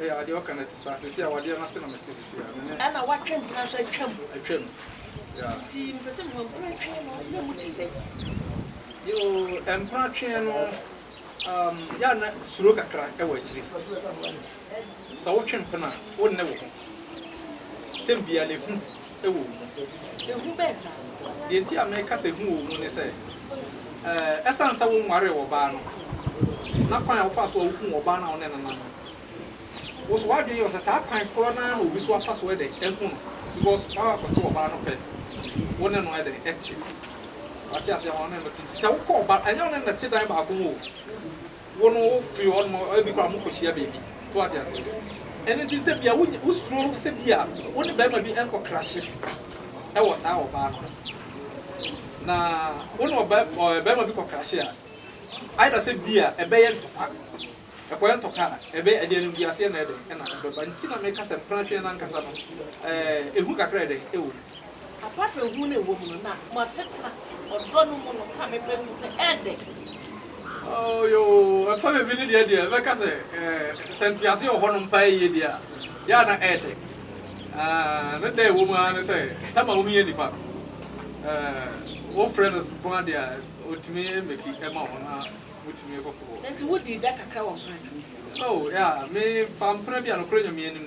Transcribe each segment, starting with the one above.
Ɛyɛ a deɛ ɔka no ɛte saa. Seesei awadeɛ no ase na mete seesei a me ne. Ɛna watwɛn bi no nso atwa mu. Atwa mu. Yeah. Nti mepɛ sɛ mehu mperatwee no na mu te sɛn. Yoo, mperatwee no um, yɛ a na suro kakra ɛwɔ akyire. Sɛ wotwe mpena a, wonne wo ho. Tɛm biara no ehu. wɔ wo mu. Ehu bɛn saa? Deɛ nti a meka sɛ ehu wɔ wo mu ne sɛ, ɛsiane sɛ wonwaree ɔbaa no, na kwan a wofaa so a wohuu ɔbaa no a wo ne no nam no, wo so w'adwene yɛ wo sɛ saa kwan korɔ no ara na obi nso afa so dɛn, ahu no, because woaba akɔsew ɔbaa no pɛ, wo ne no dɛn, te. Wate aseɛ? Ama wo ne no te. Nti sɛ wokɔ ɔbaa, ɛnyɛ wo ne no na ɛte dan baako mu o. Wo no wo firi hɔ nom ebi koraa mo kɔ hyia baabi so wate ase ɛno nti ntɛm bia wo wo suro sɛ bia wo ne barima bi nkɔ krahye ɛwɔ saa ɔbaa no ho na wo ne ɔbaa ɔɛ barima bi kɔ krahye a either sɛ bia ɛbɛyɛ ntɔkwa ɛkɔyɛ ntɔkwa a ɛbɛyɛ ɛdeɛ no wiase ɛna ɛdɛ ɛna ɛbɛba nti na meka sɛ mpena twɛn no ankasa no ɛɛ ehu kakra ɛdɛ ɛwɔ mu. Apaafo hu no wom no na mo asetena ɔdɔ no mu no ka me pɛ ho sɛ ɛɛdɛ. Oh yoo, ɛfa baabi no deɛ deɛ mɛka sɛ eh, sɛ ntease wɔ hɔnom paa yie deɛ a, yɛ a na ɛɛdɛ. Ah, ne dɛ a ɛwɔ mu ara ne sɛ, tam a wohia nnipa no, eh, wofrɛ no ko ara deɛ a, ɔtumi meki ma wo na motumi kɔkɔ. Enti wodii dɛ kakra wɔ mpena anim? Oh yeah, me faa mpena bi a nokorɛ Nyame anim.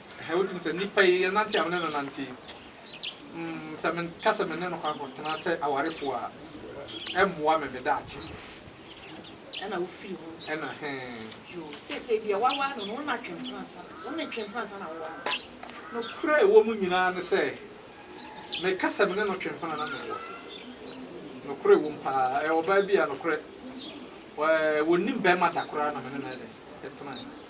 Ɛhɛɛ wogye me sɛ nipa yi yɛnante a me ne no nante yi mm sɛ menka sɛ me ne no kɔ akɔtena sɛ awarefo a ɛmmoa me me daakye deɛ. Ɛna wofii hɔ. Ɛna hɛɛ. Yoo, seesei deɛ waware no no wo na Twempena ansa na, wo ne Twempena ansa na woware no. Nokorɛ a ɛwɔ mu nyinaa ne sɛ meka sɛ me ne no Twempena na mewɔ nokorɛ a ɛwɔ mu paa ɛyɛ ɔbaa bi a nokorɛ ɛɛ wɔnnim bɛɛma da koraa na me ne no yɛ dɛn? Yɛtenaeɛ.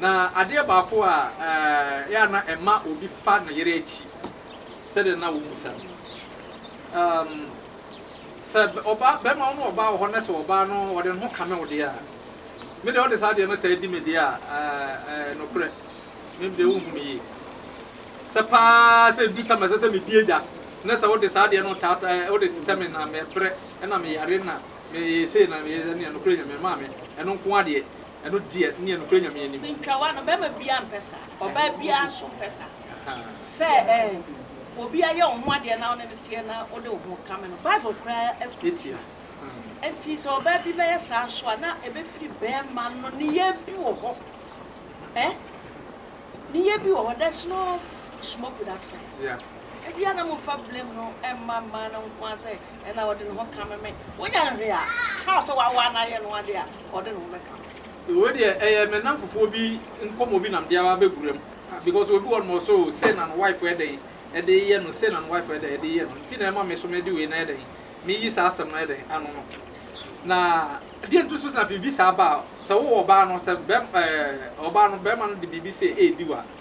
Na adeɛ baako a ɛyɛ a na ɛma obi fa ne yere akyi sɛdeɛ na wɔmmisa no, um, sɛ ɔbaa, bɛrima wo ne ɔbaa wɔ hɔ na sɛ ɔbaa no ɔde ne ho kame wo deɛ a, me deɛ ɔde saa adeɛ no taa di me deɛ a, uh, uh, nokorɛ, me deɛ wonhu me yie. Sɛ paa sɛ ɛdu tam ɛsɛ sɛ medi agya na sɛ wode saa adeɛ no taa uh, wode tetɛ me na mɛbrɛ na meyare na meyɛ sei na meyɛ sɛ neɛ nokorɛ Nyame maa me ɛno nko adeɛ Ɛno deɛ neɛ nokorɛ Nyame anim. Ntwawa no, bɛrima biara mpɛ saa, ɔbaa biara nso mpɛ saa. Sɛ eh, obi ayɛ wo ho adeɛ na wo ne no teɛ na wode wo ho kame no, Bible koraa tia. Enti sɛ ɔbaa bi bɛyɛ saa nso a, na ɛbɛfiri bɛrima no nneyɛɛ bi wɔ hɔ eh, nneyɛɛ bi wɔ hɔ, there's no smoke without fire. Enti yɛ a na momfa blame no mma mmaa no nko ara sɛ ɛna ɔde ne ho kame me. Wonya no hwee a, how sɛ waware no ayɛ no adeɛ a. ɔde ne ho bɛka no. Wei deɛ ɛyɛ me namfofoɔ bi nkɔmɔ bi na mede aba abɛwura mu because obi wɔ nom ɔsɛ oo sei na ne wife yɛ dɛn de yɛ no sei na ne wife yɛ dɛn de yɛ no nti na ɛma me nso mede wei no ayɛ dɛn meyi saa asɛm no ayɛ dɛn ano no na deɛ nti nso na biribi saa ba a sɛ wowɔ ɔbaa no sɛ bɛm ɛɛ ɔbaa no bɛrima no de biribi sei ɛredi wo a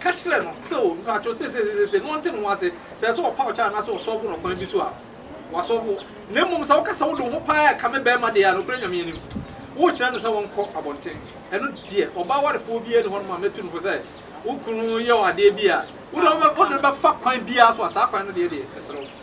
Ka kyerɛ no sɛ o, mpakyɛw sesesesese, na ɔnte ne ho ase sɛ ɛsɛ sɛ ɔpaw kyɛ anaasɛ ɔsɔɔfo no ɔkwan bi so a, wasɔɔfo wo. Na mmom sɛ woka sɛ wode wo ho paa rekame barima de a, nokorɛ Nyame anim, worekyerɛ no sɛ ɔnkɔ abɔnten. Ɛno deɛ, ɔbaa warefoɔ biara nni hɔnom a mɛtu no fo sɛ wo kunu yɛ wo adeɛ bi a, wode no bɛfa kwan biara so a, saa kwan no deɛ deɛ, mesrɛ wo.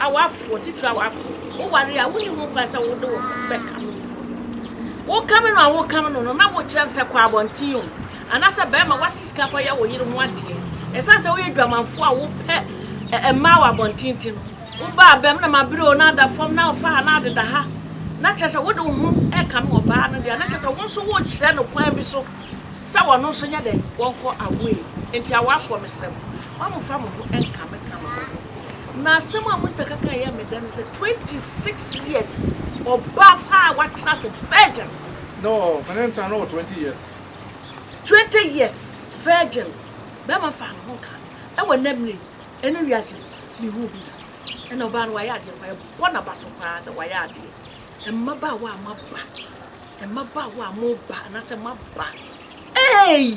Awarefoɔ, titire awarefoɔ, woware a wonni ho kwan sɛ wode wo ho bɛkame wo kunu no. Wokame no a wokame no no na wokyerɛ no sɛ kɔ abɔnten o, anaasɛ barima woate sika kɔyɛ wo yere ho adeɛ. Ɛsiane sɛ woyɛ dwamanfoɔ a wopɛ mmaa wɔ abɔnten nti no, woba abam na mabrɛ o, na ada fam, na ɔfa ha, na adeda ha, na kyerɛ sɛ wode wo ho rekame ɔbaa no deɛ a, na kyerɛ sɛ wo nso worekyerɛ no kwan bi so sɛ ɔno nso nyɛ dɛn, ɔnkɔ awoe. Enti awarefoɔ, mesrɛ mo. Moamfa mo ho nka me ka no ho no. Na asɛm a Muta ka kan yɛ me dɛ ne sɛ 26 years ɔbaa pa a watena ase virgin. No me ne no tena no wɔ 20 years. 20 years virgin bɛrima faa ne ho nka no ɛwɔ nnɛ mmerɛ yi ɛne wiase yi me huu bi da ɛna ɔbaa no wayɛ adeɛ pa ɛbɔ naba so paa sɛ wayɛ adeɛ mmabaawa a moaba mmabaawa a moba anasɛ moaba eeii